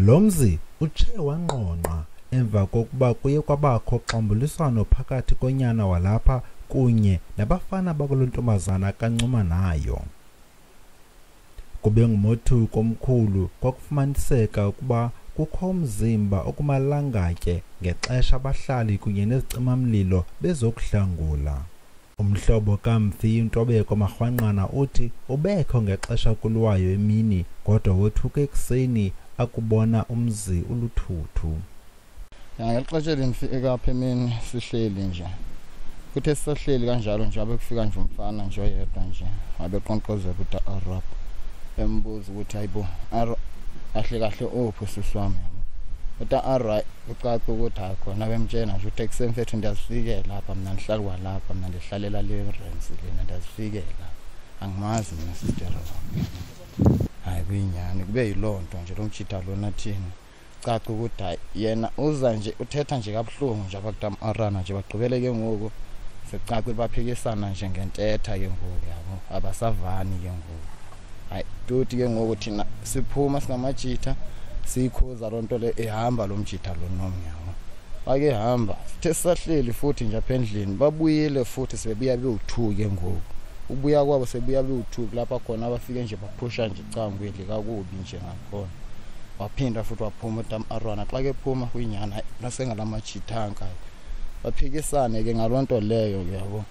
Lo mzi utshe wangqongqa emva kokuba kuye kwabakho xambuliswano phakathi konyana walapha kunye nabafana bakule ntombazana kancuma nayo. Kube ngumothuko omkhulu kwakufumaniseka ukuba kukho umzimba okumalangatye ngexesha abahlali kunye nezicimamlilo bezokuhlangula. Umhlobo kaMfi uNtobeko Marhwanqana uthi ubekho ngexesha kulwayo emini kodwa wothuka ekuseni akubona umzi uluthuthu. Ngexesha elimfi ekapha emini sihleli nje. Kuthe sisahleli kanjalo nje abe kufika nje umfana nje oyedwa nje abe qonqoza kuthi arab embuza ukuthi hayibo ahle kahle ophi sisi wami. Uthi arab kucaca ukuthi hayi khona bemtshena nje uthi ekuseni fethu ndiyazifikela apha mna ndihlali kwalapha mna ndihlalela le rens lena ndiyazifikela angimazi mna sistera wam hayi kuyinyani kube yiloo nto nje lo mtshita lona thina caca ukuthi hayi yena uza nje uthetha nje kabuhlungu nje abakutam arana nje bagqibele ke ngoku sekucaca ukuthi baphikisana nje ngentetha ke ngoku yabo abasavani ke ngoku hayi toti ke ngoku thina siphuma singamajitha siyikhuza loo nto le ehamba lo mjitha lo nomnyama bakehamba sithe sisahleli futhi nje apha endlini babuyile futhi sebebuya bewu-two ke ngoku ukubuya kwabo sebuya bewu-two kulapha khona abafike nje baphusha nje icangweli kakubi nje ngakhona waphinda futhi waphuma utam arwana xa kephuma kwinyana nasengalamajitha ankayo baphikisane ke ngaloo nto leyo uyabo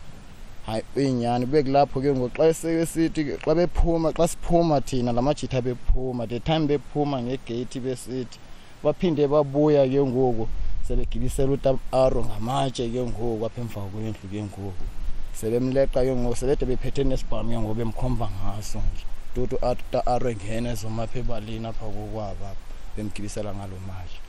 hayi uyinyani kube kulapho ke ngoku xa esithi xa bephuma xa siphuma thina la majitha bephuma the time bephuma ngegeyithi besithi baphinde babuya ke ngoku sebegibisela utam aro ngamatshe ke ngoku apha emva kwendlu ke ngoku sebemleqa ke ngoku sebede bephethe nesibhamu ke ngoku bemkhomba ngaso nje tutu aro engena ezomapha ebalini apha kokwabo apha bemgibisela ngalo manje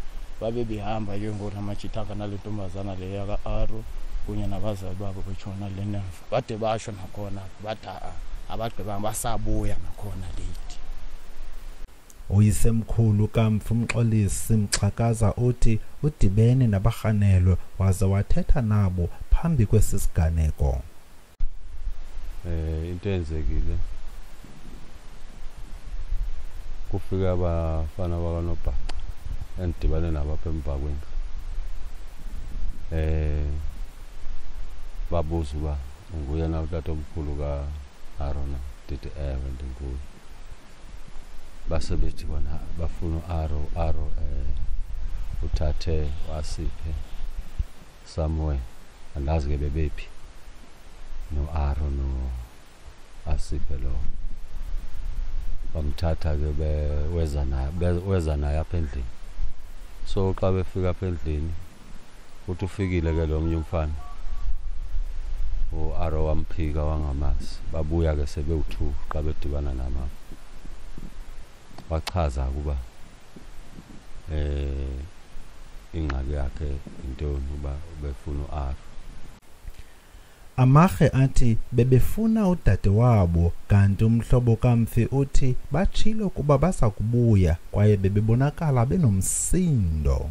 babe behamba ke ngoku amajithaka nale ntombazana le yaka-aro kunye nabazali babo betshona le nemva bade basho nakhona bathi a-a abagqibanga basabuya nakhona late uyisemkhulu kamfi umxolisi mxhakaza uthi udibene nabarhanelwe waze wathetha nabo phambi kwesi siganeko eh into eyenzekile kufike abafana bakanobhaca endidibane nabo apha emva kwendlu eh babuza uba nguye na utata omkhulu ka-arona ndithi ewe ndinguye basebethi bona bafuna u-aro aro um eh, uthathe wasiphe somewhere andazi ke bebephi no-aro no-asipe lo bamthatha ke weza naye weza naye apha endlini so xa befika apha endlini uthi ufikile ke lo mnye umfana u-aro wamphika wangamazi babuya ke sebewu-two xa bedibana namama wachaza ukuba eh ingxaki yakhe intoni uba ubefuna uAr Amarhe athi bebefuna udade wabo kanti umhlobo kamfi uthi batshilo kuba basakubuya kwaye bebebonakala benomsindo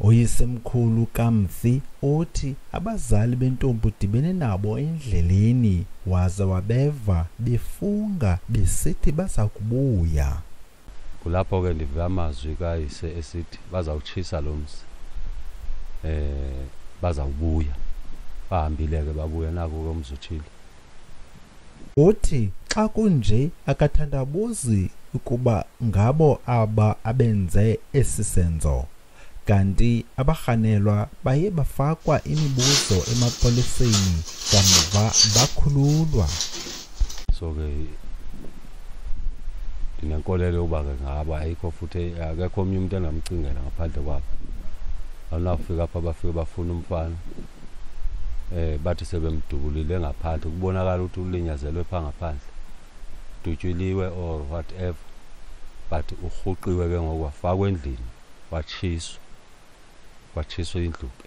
Oyisemkhulu kamfi othi abazali bentombi udibene nabo endleleni waze wabeva befunga besithi baza kubuya. Kulapho ke ndive amazwi kayise esithi bazawutshisa lo mzi. Eh bazawubuya. Bahambile ke babuya naku ke umzi uthile. Uthi xa kunje akathandabuzi ukuba ngabo aba abenze esi senzo kanti abarhanelwa baye bafakwa imibuzo emapoliseni kamva bakhululwa so ke ndinenkolelo yokuba ke ngaba ayikho futhi akekho omnye umntu engamcingela ngaphandle kwabo awunawufika apha bafike bafuna umfana eh bathi sebemdubulile ngaphandle kubonakala ukuthi ulinyazelwe pha ngaphandle dutyuliwe or whatever but urhuqiwe ke ngoku wafakwa endlini watshiswa watshiswa indlu ke